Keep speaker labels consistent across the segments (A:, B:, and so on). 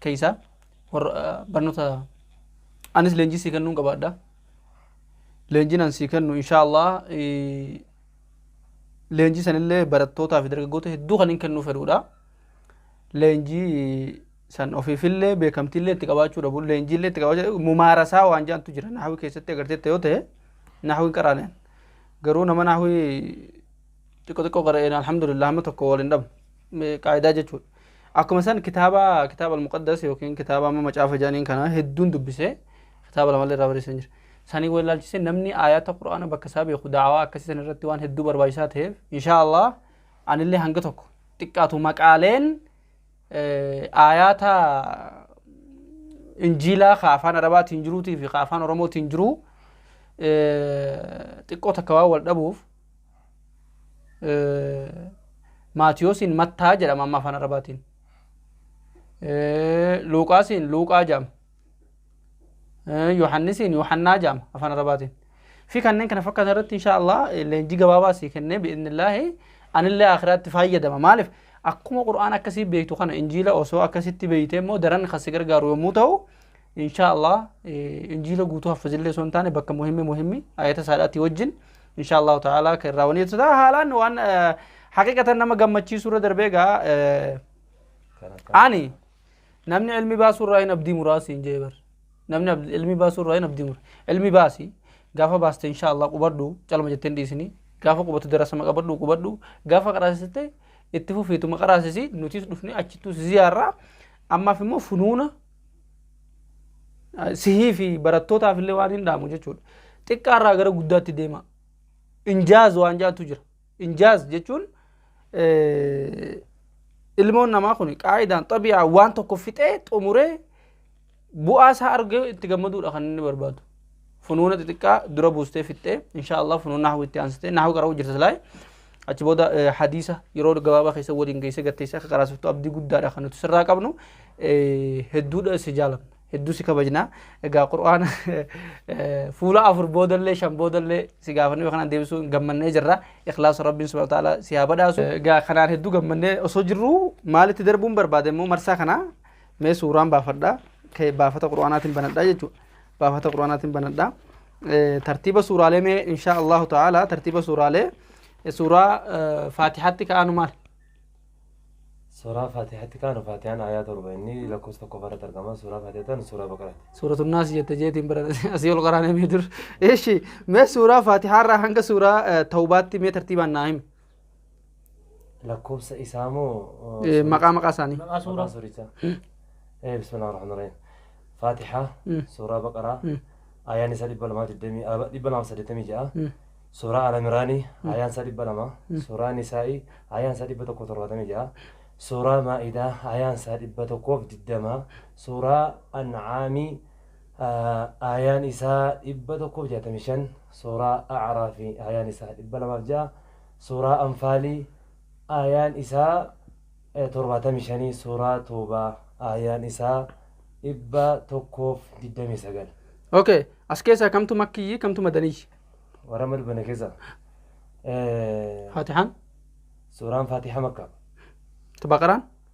A: keeysaa warra ah, barnoota anis leenjii sii kennuun qabaadha leenjiin an sii kennu inshaa allah eh, leenjii sanillee barattootaa fi dargaggoota hedduu kan hin kennuu fedhuudha leenjii san ofiifillee beekamtiillee itti qabaachuu dhabu leenjiillee itti qabaachuu mumaarasaa waan jaantu jira naahawii keessatti agarteetta yoo ta'e naahawiin qaraaleen garuu nama naahawii xiqqo xiqqoo qara'een alhamdulillah amma tokko wal hin dhabu Me- qaayidaa jechuudha akkuma san kitaaba kitaaba almuqaddas yookiin kitaaba amma macaafa jedhaniin kana hedduun dubbisee kitaaba lamallee irraa barreessan jira sanii wal ilaalchisee namni aayaata qura'aana bakka isaa beeku daawaa akkasii san irratti waan hedduu barbaachisaa ta'eef inshaa allah anillee hanga tokko xiqqaatu maqaaleen eh, aayaata injiilaa ka afaan arabaatiin jiruutii fi ka afaan oromootiin jiruu eh, xiqqoo takka waan wal dhabuuf Maatiyoosiin Mattaa jedhama amma afaan Arabaatiin. Luuqaasiin Luuqaa jedhama. Yohannisiin Yohannaa jedhama afaan Arabaatiin. Fi kanneen kana fakkaatan irratti inshaallah leenjii gabaabaa sii kennee bi'innillaahi anillee akiraatti fayyadama. Maaliif akkuma Qur'aan akkasii beektu kana injiila osoo akkasitti beeytee immoo daran kan si gargaaru yommuu ta'u inshaa allah injiila guutuu haffazillee osoo hin taane bakka muhimmi muhimmi ayata saadhaatti wajjin inshaa allahu ta'ala kan irraa wanii tataa haalaan waan haqiqatan nama gammachiisuu irra darbee gaa ani namni ilmi baasuu irraa hin abdii muraasi hin jee bar namni ab- ilmi baasuu irraa hin abdii mura ilmi baasi gaafa baaste inshaa allah qubadhu calma jettee hin dhiisini gaafa qubatu darasama qabadhu qubadhu gaafa qaraasiste itti fufiituma qaraasisi nutis dhufne achittu si ziyaarraa ammaaf immoo funuuna sihii fi barattootaaf illee waan hin dhaamu jechuudha. Xiqqaarraa gara guddaatti deema. Injaaz waan jaatu jira. Injaaz jechuun ilmoon namaa kun qaayidaan xabi'aa waan tokko fixee xumuree bu'aa isaa argee itti gammaduudha kan inni barbaadu. funuuna xixiqqaa dura buustee fixxee insha Allah funuun nahu itti aansitee nahu qara'uu jirta silaay achi booda hadiisa yeroo gabaabaa keessa waliin geessee gatteessee akka qaraasiftu abdii guddaadha kan nuti sirraa qabnu hedduudha si jaalamna hedduu si kabajna egaa qur'aana fuula afur boodallee shan boodallee si gaafannee kanaan deebisuu gammannee jirra ikhlaasa rabbiin subhanahu ta'ala si haa badhaasu egaa kanaan hedduu gammannee osoo jirru maalitti darbuun barbaade immoo marsaa kanaa mee suuraan baafadha kee baafata qur'aanaatiin banadha jechuudha baafata qur'aanaatiin banadha Eh, tartiiba suuraalee mee insha allahu ta'ala tartiiba suuraalee eh, suuraa eh, faatihatti ka'aanu maal
B: Suuraa Faatihatti kaanu Faatihaan aayaa torba inni lakkoofsa tokko irratti argama. Suuraa Faatihaa ta'an suuraa Baqaraati. suuratu naas jette
A: jeetiin bara asii ol qaraanee mee dur eeshi mee suuraa faatihaarraa hanga suuraa eh, tawbaatti mee tartiibaan naa himi lakkoofsa
B: isaa moo Eh, maqaa maqaa
A: isaanii maqaa suuraa maqaa
B: suurichaa Eh, bismillah rahmaan rahim faatihaa Mm. suuraa baqaraa Mm. ayaan isaa dhibba lamaa digdamii ah, dhibba lamaa saddeettamii ja'a Mm. suuraa alamiraanii ayaan isaa dhibba lama suuraa nisaa'ii ayaan isaa dhibba tokko torbaatamii ja'a suuraa maa'idaa ayaan isaa dhibba tokkoof digdamaa suuraa ancaamii Aayaan isaa 165 Suuraa A'raafi Aayaan isaa 206 Suuraa Anfaalii Aayaan isaa 75 Suuraa Toowbaa Aayaan isaa 129. Ok as
A: keessaa kamtu makkiyyi kamtu madaniyyi? Warra amma dubbanne
B: keessaa Faatihaan?
A: Suuraan
B: Faatihaa makka. Baqaraan?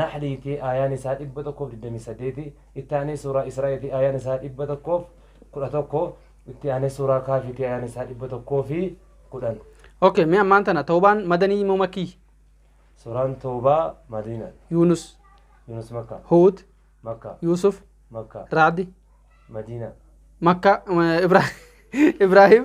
B: Nahlii ti, aayaan isaa 128, itti aanee suuraa Israa'ii ti, aayaan isaa 111, itti aanee suuraa Kaafii ti, aayaan isaa 110. Okay, mee ammaan
A: tana tawbaan madanii moo makkii? Suuraan
B: Toobaa Madiina, Yuunus,
A: Yunus Makka,
B: Huud, Makka,
A: Yuusuf,
B: Makka,
A: Raadi, Madiina.
B: Makka,
A: Ibra- Ibraahim,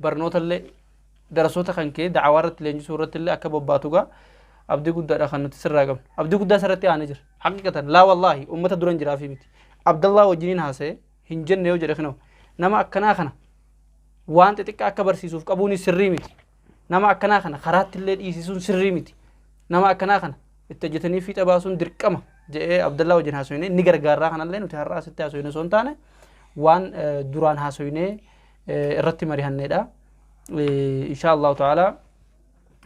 A: barnootallee darasoota kan kee da'awaa irratti leenjisuu irratti illee akka bobbaatu gaa abdii guddaadha kan nuti sirraa qabnu abdii guddaa isarratti aanee jira haqiqatan laa wallaahi ummata duran jiraafii miti abdallaa wajjiniin haasa'e hin jenne yoo jedhe kinoo nama akkanaa kana waan xixiqqaa akka barsiisuuf qabuun sirrii miti nama akkanaa kana karaatti illee dhiisisuun sirrii miti nama akkanaa kana itti hojjetanii fiixa baasuun dirqama jedhee abdallaa wajjin haasofne ni gargaarraa kanallee nuti har'aa asitti haasofne osoo hin taane waan duraan haasofne irratti marihanneedha. Inshaa Allahu ta'ala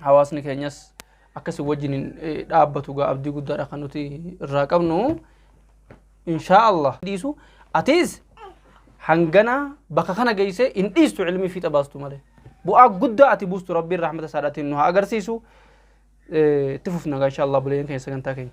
A: hawaasni keenyas akkasii wajjin dhaabbatu gaa abdii guddaadha kan nuti irraa qabnu. Inshaa Allah dhiisu atiis hangana bakka kana geessee hin dhiistu ilmii fiixa baastu malee. Bu'aa guddaa ati buustu rabbiin rahmata isaadhaatiin nu haa agarsiisu. Itti fufna gaa inshaa Allah buleen keenya sagantaa keenya.